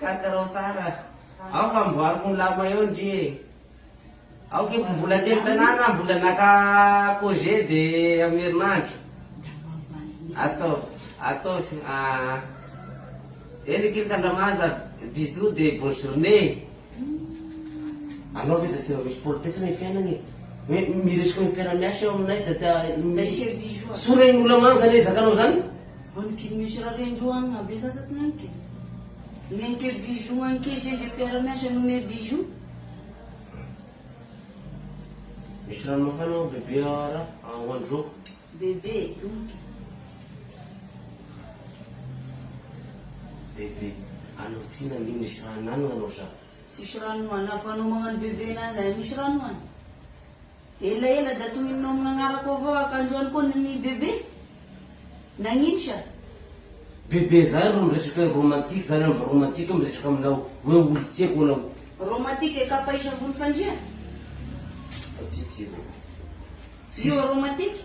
Kakarao tsara aho fa amboariko ny lamina eo ndry e! Aoka efa mbola telo tanàna aho mbola naka congé de amin'ny herinandro. Ataovy, ataovy aa. Eny akia ka Andramanja, bisous de bonne journée. Anao ve da tsy mba misy politesse ny fiainana e! Hoe miresaka hoe mpiara-miasa eo aminay da tia, sorehiny olona manja ny ezakanao zany? Ony dimy misy ra reny roa any mabezaka tony any ke. Neny ke bijoux any ke zeny de mpiara miasa no me bijoux. Misy rano mafana ao bebe ah ra ah ho andro roa. Bebe e domoka e. Bebe, anao ty nandino izy fa anano anao za. Tsisy rano an! Avy anao magnano bebe anazy aia misy rano an! Ela ela da tonininao amign agnarako avao ak andro any koa ny bebe? Nagnino sa? Bebe zany ro miresaka romantique zany an mba romantique miresaka aminao hoe olo tiako anao. Romantique kapa isa ambony fandria? Io romantique?